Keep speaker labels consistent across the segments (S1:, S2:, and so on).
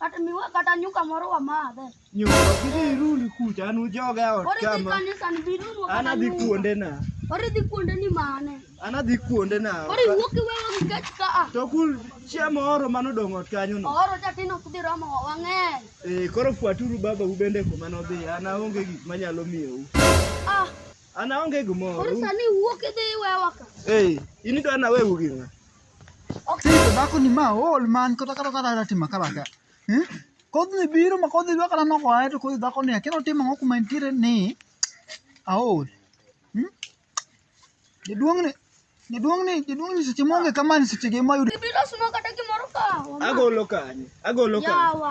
S1: Kata miwa kata nyuka moro wamadhe. Nyuka kidhi
S2: ruli kucha an ujoga e ot Koro idhi kama. kanisa ni bidunwa
S1: An kata adhi nyuka. kuonde na.
S2: Koro idhi kuonde ni
S1: mane. An adhi kuonde
S2: na. Koro iwuok iweyo
S1: nikech ka a. To kul chiemo
S2: oro mano dong' ot kanyo no. Oro chatino ok dhi romo
S1: wang'eny. Eh, koro fuaturu
S2: baba u bende kuma nodhi. An aonge gik manyalo miyou. Ah, An aonge gimoro. koro sani iwuok idhi
S1: iwewa ka. Eh, in idwa
S2: naweu gi ng'a? Sito
S3: dhako ni ma ool man kata kata kata kata timo kala ka. Eh? Kodhi biro ma kodhi dwa kata noko ae to kodhi dhako ni akia notimo ang'o kuma entiere ni aol. Hmm? Jaduong' ni jaduong' ni jaduong' ni seche monge kama ni seche ge mayudo. Ibiro sumo kata gimoro
S1: ka. Agolo kanyo.
S2: Agolo kanyo. Yawa.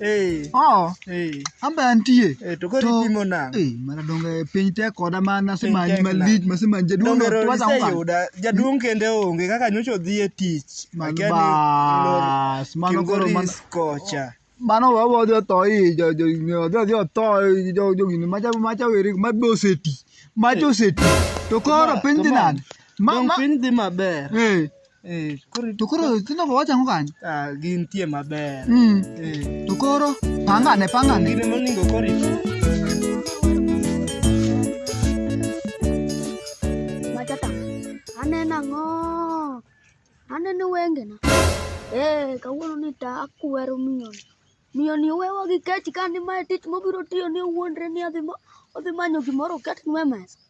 S3: Eh, Oh, eh, amba antie. eh, to koro To- ipimo
S2: nang'o? Eh, mana donge piny
S3: tek koda mana Piny simanyi tek na. malich masimanyi jaduong' Donge rori tuwaza unga. iseyuda,
S2: jaduong' kende onge kaka nyocha odhi e tich. Man Akia ni bas,
S3: mano koro man- Kilgoris kocha.
S2: mano we wadhi
S3: otho i jo- jo- jo- odhi odhi otho i jo- jo gini macha macha weri mabe oseti macha oseti to koro Ma- piny dhi come on. nade Ma- Donge ma- piny dhi
S2: maber. eh,
S3: Eh, koro to koro nyithindo go wachango kanyo ah, gintie maber
S2: mm. eh. to
S3: koro pangane pangane gine moningo
S2: koro
S1: matata aneno ang'o aneno wengena ee eh, kawuono ni ta akwero miyoni miyoni owewa gi kech ka ni mae tich mobiro tiyo ni owuondre ni odhi manyo gimoro oket nwe mesa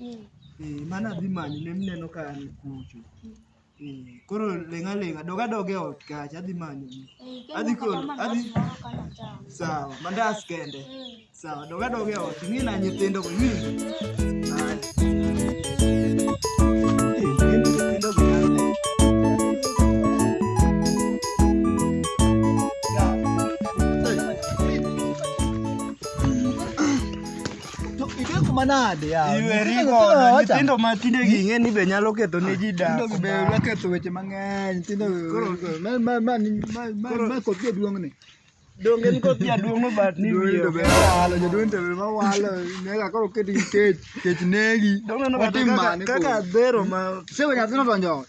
S2: mm. eh, mane adhi manyo ne mineno ka an kucho mm. eh, koro leng'a leng'a doga doga e ot kacha adhi manyo eh, adhi koro adhi sawa mandas kende mm. sawa doga doga e ot ing'i na nyithindo go ing'i
S3: To ideko manade yawa. Iwe rigo, nyithindo
S2: ma tinde ging'e ni be nyalo ketho ne ji dak. Nyithindo be nya ketho weche
S3: mang'eny. Nyithindo Koro- ma ma ma ni- ma ma Koro- ma koth jaduong' ni. Donge en koth
S2: jaduong' no but ni wiye Jaduong' be ok walo, jaduong' be
S3: ma walo. Nega koro keti kech, kech negi. Donge no Watim kaka- mane kaka
S2: koro? dhero ma Sewe nyathino donjo
S3: ot.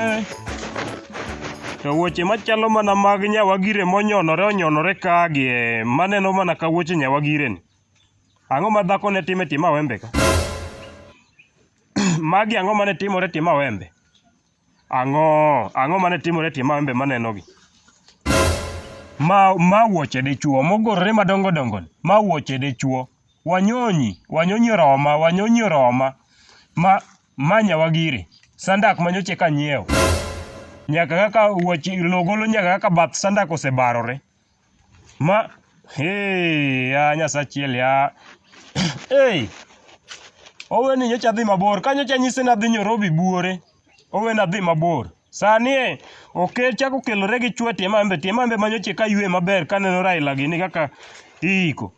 S4: Eh. To wuoche machalo mana mag nyawagire monyonore onyonore ka gi eh, maneno mana ka wuoche nyawagire ni. Ang'o ma dhako ne time tima wembe ka? Magi ang'o mane timore tima wembe? Ang'o, ang'o mane timore tima wembe maneno gi? Ma ma wuoche dichuo mogorore madongo dongo ni. Ma wuoche dichuo. Wanyonyi, wanyonyi oroma, wanyonyi oroma. Ma ma nyawagiri. Sandak ma nyocha eka anyiewo. Nyaka kaka wuoche lowo golo nyaka kaka bath sandak osebarore. Ma hee ya Nyasaye achiel ya. Hey! Oweni nyocha adhi mabor. Ka nyocha anyise ni adhi Nyorobi buore. Oweni adhi mabor. Sani e okel chako kelore gi chwe tie mambe tie mambe ma nyocha eka aywe maber kaneno Raila gini kaka iiko.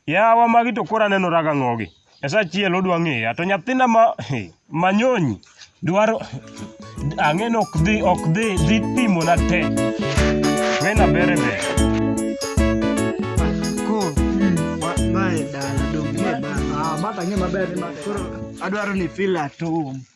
S4: Yawa magi to koro aneno raga ng'ogi. Esa chiel odwa ng'eya to nyathina ma manyonyi dwaro ang'eno ok dhi ok dhi dhi pimo na te. Wena bere be. Ko ma ma e dala dong'
S2: e dala. Ah, ma tang'e maber ni ma.
S3: Koro adwaro ni
S2: feel at home.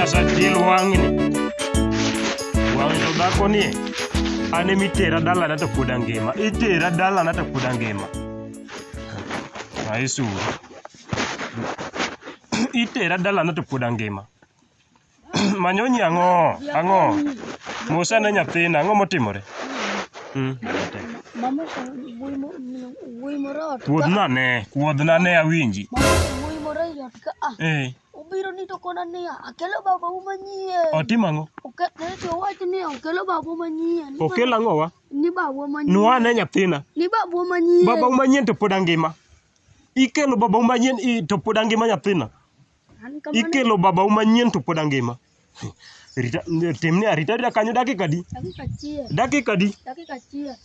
S4: Nyasachiel wang'ni wang' to dhako ni an ema itera dalana to pod angima itera dalana to pod angima aisuru itera dalana to pod angima Manyonyi ang'o? Ang'o? Mos ane nyathina, ang'o motimore? Mm. Mama oshalo
S1: wuoyi mo- min- wuoyi moro ot ka- Kuodhna ne, kuodhna
S4: ne awinji. Mama oshalo wuoyi
S1: moro ei ot ka a. Eh, Obiro ni to kona niya, akelo babau manyien. otimo ang'o? Oke-
S4: ne to owacho
S1: niya, okelo babau manyien. Ni Okel ang'o wa? ba-
S4: Ni babau manyien.
S1: Nwa ane nyathina.
S4: Ni babau manyien.
S1: Babau manyien to pod
S4: angima. Ikelo babau manyien i- to pod angima nyathina. An kamano. ikelo babau manyien to pod angima Rita, timne arita arita kanyo dakika adi Dakika achiel. dakika adi Dakika
S1: achiel.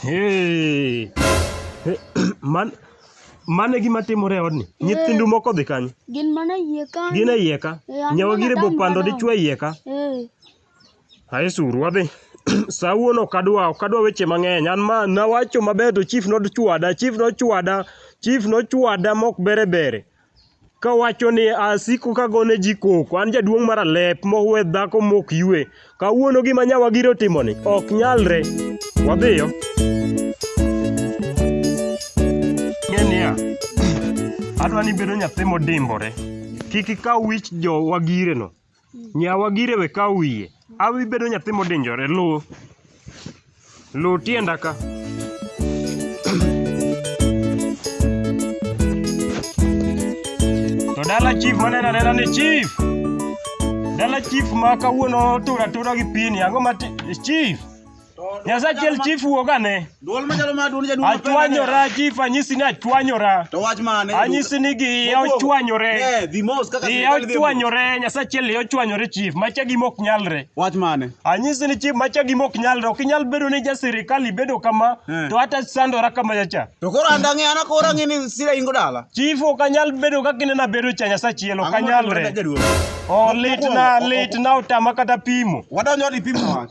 S4: Hey. Hey, man mane gima timore e odni nyithindu moko dhi kanyo Gin mana
S1: yie kanyo. gin e iye ka Eh, an
S4: nyawa mana gire dam bopando madam. dichwo e iye ka Eh. Aye suru wadhi. Sawuono ok adwa, ok adwa weche mang'eny. An ma nawacho maber to chief nochwada, chief nochwada, chief nochwada mok bere bere. Kawacho ni asiko kagone ji koko, an jaduong' mar alep mowe dhako mok ywe. Kawuono gima nyawagiri otimoni, ok nyalre. Wadhiyo. Ng'e niya, adwa ni ibedo nyathi modimbore. Kik ikaw wich jowagireno. Nyawa gire we kaw wiye. Awi bedo nyathi modinjore. Lu. Lu tienda ka. To dala chief manena nena ni chief. Dala chief ma kawuono tura tura gi pini. Ang'o ma ti- chief? Nyasaye achiel chief wuog ane. Duol machalo ma duol
S5: jaduol. Achwanyora chief
S4: anyisi ni achwanyora. To wach mane? Anyisi
S5: ni gi
S4: ochwanyore. Eh, the most kaka gi
S5: ochwanyore Nyasaye
S4: achiel ochwanyore chief macha gi mok nyalre. Wach mane? Anyisi
S5: ni chief macha
S4: gi mok nyalre. Ok inyal bedo ni ja sirkal ibedo kama eh. to ata sandora kama chacha. To koro anda ng'e ana
S5: koro ng'e ni sira ingo dala. Chief ok anyal bedo
S4: kaka inena bedo cha Nyasaye achiel ok anyalre. Oh litna litna utama kata pimo. Wadonjo ni pimo wach.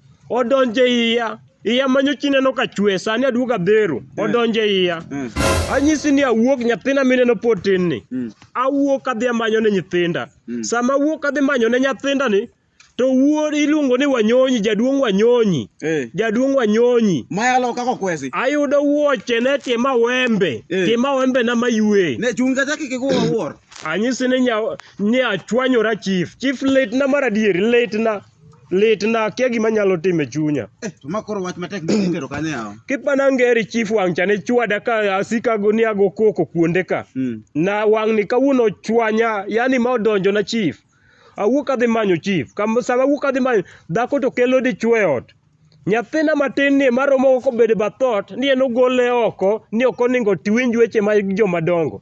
S4: Odonje iya. Iya manyo chi neno ka chwe, sani aduogo adhero. Eh. Odonje iya. Eh. Anyisi ni awuok nyathina mineno pod tin ni. Hmm. Awuok adhi amanyo ne nyithinda. Hmm. Sama awuok adhi manyo ne nyathinda ni, to wuod iluongo ni wanyonyi jaduong wanyonyi eh. jaduong wanyonyi mayalo kako kwesi
S5: ayudo wuoche
S4: ne tima wembe eh. tima wembe na maywe ne chunga chaki kigo
S5: wuor anyisi
S4: ni nya ni achwanyora chief
S5: chief
S4: late na maradier late na Lit na akia gima anyalo timo e chunya. Eh, to ma koro wach
S5: matek mi itero kanyo yawa. Kipana ngeri chief
S4: wang' cha ne chwada ka asika go ni ago koko kuonde ka. Mm. Na wang' ni kawuono chwanya, yani ma odonjo na chief. Awuok adhi manyo chief. Kam sama awuok adhi manyo dhako to kelo dichwo e ot. Nyathina matin ni ma romo ko bedo bathot ni en ogole oko ni ok oningo tiwinj weche ma joma dongo.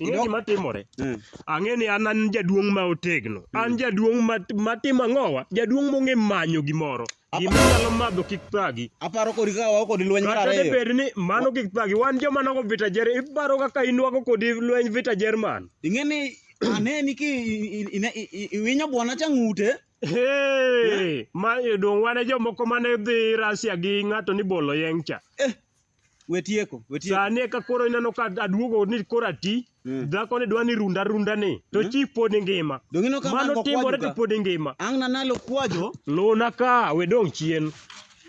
S4: Ing'e gima timore? Mm. Ang'e ni an an jaduong' ma otegno. Mm. An jaduong' ma matimo ang'owa, jaduong' mong'e manyo gimoro. Gima nyalo madho kik thagi. Aparo kodi ka wao
S5: kodi lweny mar ariyo. Kata bed ni mano
S4: kik thagi. Wan joma nogo vita jer, iparo kaka inwago kodi lweny vita Jerman. Ing'e ni
S5: ane ni ki iwinyo bwana cha ng'ute. Hey,
S4: ma dong' wane jomoko mane dhi Russia gi ng'ato ni bolo yeng' cha. Eh. We tieko,
S5: we tieko. Sani eka
S4: koro ineno ka aduogo ni koro ati. Mm. Dhako ni dwa ni runda runda ni. To mm. chi pod ngima. Dongino ka mano timore to pod ngima. Ang' na nalo kwajo.
S5: Luna ka
S4: we dong' chien.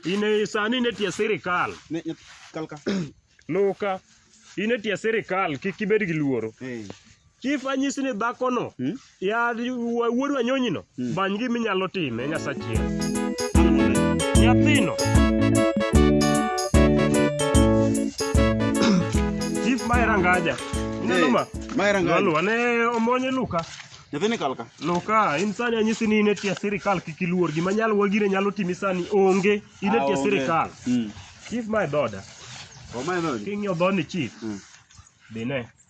S4: Ine sani ne tie sirikal. Ne kalka.
S5: Luka.
S4: Ine tie sirikal kik ibed gi luoro. Hey. Chief anyisi ni dhakono Hmm? ya wuod wanyonyino Hmm. bany gima inyalo time nyasachiel nyathino chief mae rangaja ineno ma Maera ngali. Lwaluwa ne
S5: omonye
S4: luka Nyathini kalka.
S5: luka in sani
S4: anyisi ni in e tie sirikal kik iluor gima nyalo wagire nyalo timi sani onge in e Ah, tie onge. sirikal Mm. chief mae dhoda Omae dhodi.
S5: king'iyo dhoni chief
S4: Mm. dhine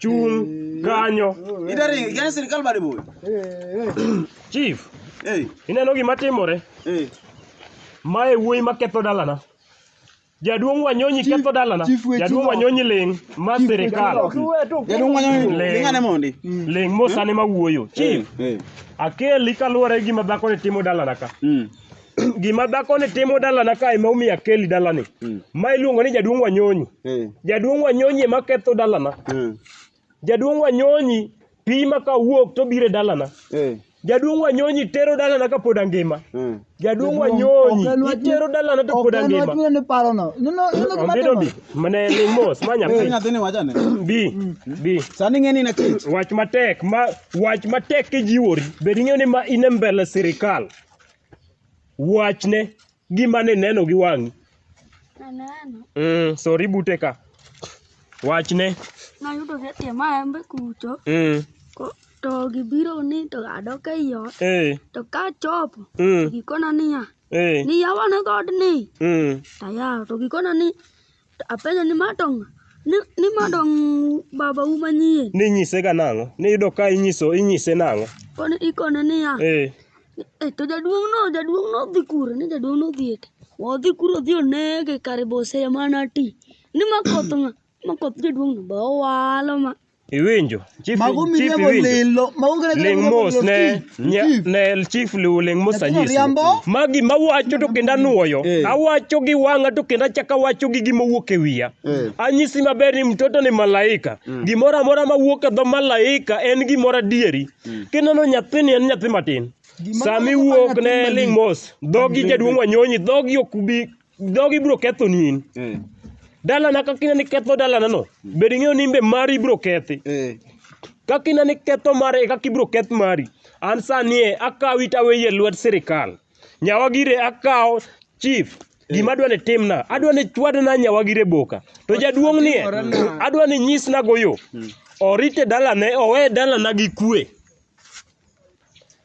S4: Chung
S5: kanyo. Ida ring, gane sirkal bade boy.
S4: Chief, Eh, ineno gima timore? eh. Mae wuoyi ma ketho dalana. Jaduong' Wanyonyi ketho dalana. chief weche Jaduong' no. Wanyonyi ling' ma sirikal. Jaduong' wanyo
S5: ni Le. lingane mondi. Ling' mosane ma
S4: wuoyo. Chief, Eh, eh. akeli kaluwore gi gima dhakoni timo dalana ka. Mm. gima dhako ni timo dalana ka ema omiyo akeli dalani Mm. ma iluongo ni jaduong' wanyonyi Eh. jaduong' wanyonyi ema ketho dalana Mm. jaduong' wanyonyi pi ma ka wuok to biro e dalana Eh. jaduong' wanyonyi tero dalana ka pod angima Mm. jaduong' wanyonyi itero dalana to pod angima Okenwachmine ni parono. Nino nino gima Ondido bi timo. mane ni mos ma Eh, nyathi nyathini wachane.
S5: bi bi
S4: Sani ng'eni na
S5: kech. wach matek ma
S4: wach matek kijiwori bed ing'eyo ni ma in e mbele sirikal Wachne gima ne neno gi wang'i. Naneno. Mm,
S1: sori bute ka.
S4: Wachne. Nayudo
S1: ka tie maembe kucho. Mm, ko- To gibiro ni to adok ei ot. eh, To ka chopo, to mm, gikona niya, eh, ni yawane dhoodni. mm. To ayawo, to gikona ni Apenjo ni madong ni, ni madong baba u manyien. Ni nyise ga nang'o?
S4: Ni yudo ka inyiso inyise nang'o? Koni ikone
S1: niya. Eh. E to jaduong' no jaduong' no dhi kure ni jaduong' no dhi ete. Odhi kuro odhi onege kare bose mana ti. Ni ma koth ng'a? Ma koth jaduong' no ba owalo ma Iwinjo? Chief,
S4: Mago chief miriambo iwinjo? lilo. Mago kata Ling miriambo mos lilo, ne Steve. nya, Steve. ne chief liu ling mos Nyathino anyisi. riambo. Magi mawacho to kendo anuoyo. Eh. Awacho gi wang'a to kendo achako awacho gi gima wuok e wiya. Eh. Anyisi maber ni mtoto ni malaika. Gimoro amora mawuok e dho malaika en gimoro adieri. Kineno nyathini en nyathi matin. Gimoro Sami amora wuok nyathi ne malich. ling mos. Dhogi jaduong' wanyonyi, dhogi ok bi Jogi biro ketho ni in. Eh. Dalana kaka ineno ni ketho dalana no, bed ing'eyo ni imbe mari biro kethi. Eh. Kaka ineno ni ketho mare e kaka ibiro keth mari. An sani e akawi to aweyi e lwet sirkal. Nyawagire akawo chief gima adwa ni timna adwa ni chwadna nyawagire boka to jaduong' nie adwa ni nyisna goyo orite dalane owe dalana gi kwe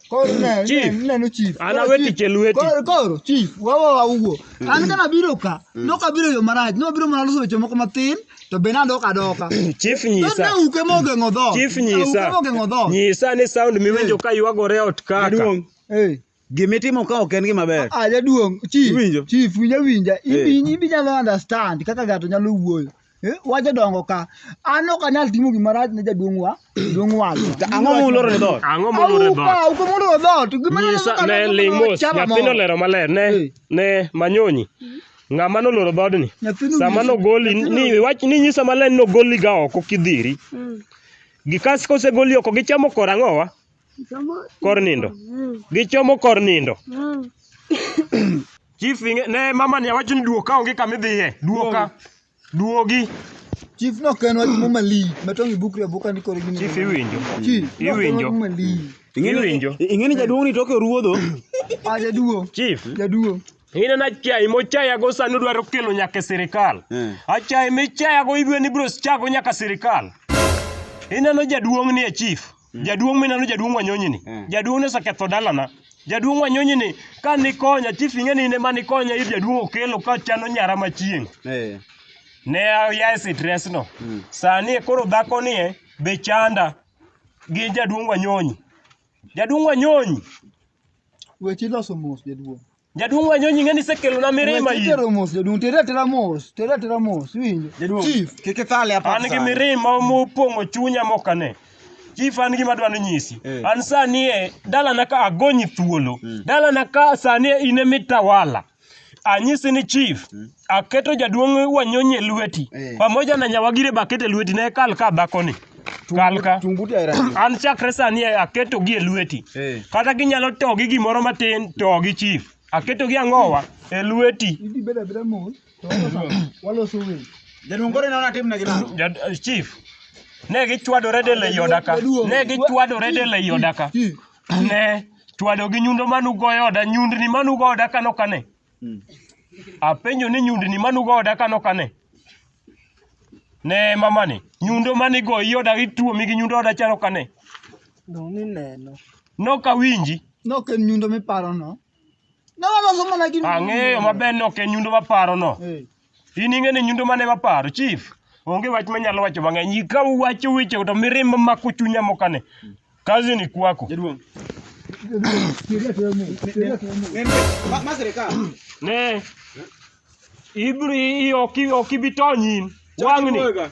S4: Koro
S3: ne, Chief. ne, neno chief. An
S4: Koro awe
S3: chief- tich e lweti.
S4: Koro, koro, chief,
S3: wawa wawuo. An kana biro ka, nokabiro yo marach, nobiro mana loso weche moko matin, to be nadok adoka. chief To nyisa ne
S4: uke mogeng'o dhoot.
S3: chief Ne uke nyisa mogeng'o
S4: dhoot. nyisa
S3: ni sound
S4: miwinjo ka ywagore ot kaka Jaduong', Eh.
S3: gimitimo ka ok
S5: en gima ber. Ah, jaduong', chief,
S3: Iwinjo? chief, winja
S5: winja.
S3: Eh. Ibi, ibi nyalo understand kaka ng'ato nyalo wuoyo. Eh, wacha dongo ka an ok anyal timo gima rach ne jaduong' wa jaduong' wacho To ang'o
S5: muloro ne dhoot? Ang'o molure dhoot? Auka,
S4: uko muloro dhoot Gima
S3: ne- Nyisa ne ne- ling
S4: mos chama nyathino moro. lero maler ne Eh. ne manyonyi. Ng'ama noloro dhoodni. Nyathino Sama nyisa- nogoli ni nyathino- wach ni nyisa maler ni nogoli ga oko kidhiri. Gikas kosegoli oko gichamo korang'owa kor nindo gichomo kor nindo chief inge- ne mama ni awacho ni duoka onge kama idhiye duoka duogi Chief
S3: no ken wach muma li, matong ibukri abuka ni kore gini. chief iwinjo Chief, no
S4: ken iwinjo.
S3: wach
S4: muma li. Iwinjo. ing'eni jaduong' ni
S5: toke oruodho Ah, jaduo,
S3: chief jaduo.
S4: ineno
S3: achayi
S4: mochayago sani odwaro kelo nyaka e sirikal Eh. achayi michayago ibwe ni biro chago nyaka sirikal ineno jaduong' ni e chief Jaduong' mineno jaduong' Wanyonyi ni. Mm. Jaduong' ne oseketho dalana. Jaduong' Wanyonyi ni ka nikonya chief ing'e ni ne ma nikonya ir jaduong' Okelo ka chano nyara machieng'. Eh. Ne aya e stress no. Mm. Sani e koro dhako ni e be chanda gi jaduong' Wanyonyi. Jaduong' Wanyonyi
S3: Weche iloso mos jaduong'. Jaduong' Wanyonyi ng'e
S4: ni isekelona mirima Weche in. tero mos jaduong' tere
S3: atera mos tere atera mos iwinjo Jaduong'. chief kik ithale
S5: hapa An gi sasa. mirima
S4: mopong'o chunya mokane. Chief an gima dwani nyisi. Eh. An sani e dalana ka agonyi thuolo. Dalana ka sani e in e mitawala. Anyisi ni chief aketo jaduong' wanyonyi e lweti Eh. pamoja na nyawagire be aketo e lweti ne kal ka dhakoni kal ka Tung buti aira. an chakre sani aketogi e lweti Eh. kata ginyalo togi gimoro matin togi chief aketogi ang'owa e lweti Idi beda beda mos.
S3: To waloso- waloso winy. Jaduong' koro inaona
S5: tim na gi nang'o? Jad- chief
S4: ne gichwadore del ei oda ka ne gichwadore del ei oda ka ne chwado gi nyundo manugoyo oda nyundni manugo oda kano kane Apenjo ni nyundni manugo oda kano kane? Ne mamani, nyundo manigo i oda ituomi gi nyundo oda chalo kane? Dong' ni
S3: neno. Nok awinji.
S4: Nok en nyundo
S3: miparono. Ne waloso mana gi Ang'eyo maber ni ok
S4: en nyundo maparono. Eh. In ing'e ni nyundo mane maparo chief. Onge wach manyalo wacho mang'eny. Ika uwacho weche to mirimba mako chunya mokane. Kazi ni kwako. Jaduong'. Ma- Ma sirikal. Ne. Ibri ok ok ibi tony in. Wang'ni. Wega.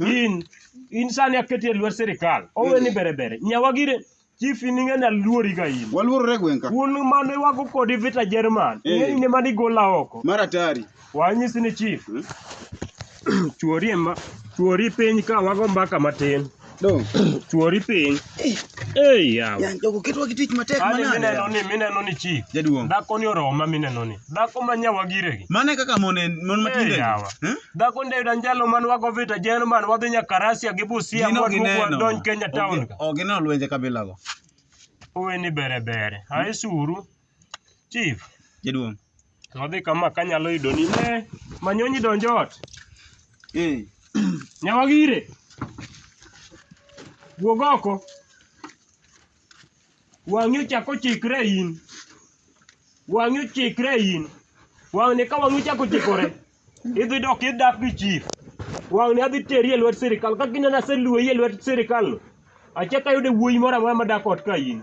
S5: in
S4: in sani aketi e lwet sirikal owe ni bere bere nyawa gire chief in ing'e naluori ga in Waluorore gweng' ka. un
S5: mane wago
S4: kodi vita jerman Eh. ing'e ine mane igola oko Mar atari.
S5: wanyisi ni chief
S4: chuori e ma chuori piny ka wago mbaka matin Dong.
S5: chuori piny
S4: Ei yawa. Yan jogo ketwa gi
S5: tich matek Kani mineno manade. ni mineno ni chi.
S4: Jaduong'. Dhako ni oroma
S5: mineno
S4: ni. Dhako ma nyawa gire gi. Mane kaka mon en mon
S5: matinde. Ei yawa. Eh?
S4: Dhako ndio danjalo man wago vita jeno man wadhi nyaka Russia gi Busia Gino mwadhi gineno. wadonj Kenya town. Ogi- Ogineno lwenje kabilago.
S5: Uwe ni
S4: bere bere. Aisuru. Chief, Jaduong'.
S5: to wadhi kama
S4: kanyalo yudo ni ne manyonyi donjo ot. Eh, Nyawagire. Wuog oko. Wang'i ochako chikre in. Wang'i ochikre in. Wang'ni ka wang'i ochako chikore. Idhi dok idak gi chief. Wang'ni adhi teri e lwet sirikal. Ka kineno aseluoyi e lwet sirikal no. Achak ayude wuoyi moro amora madak ot ka in.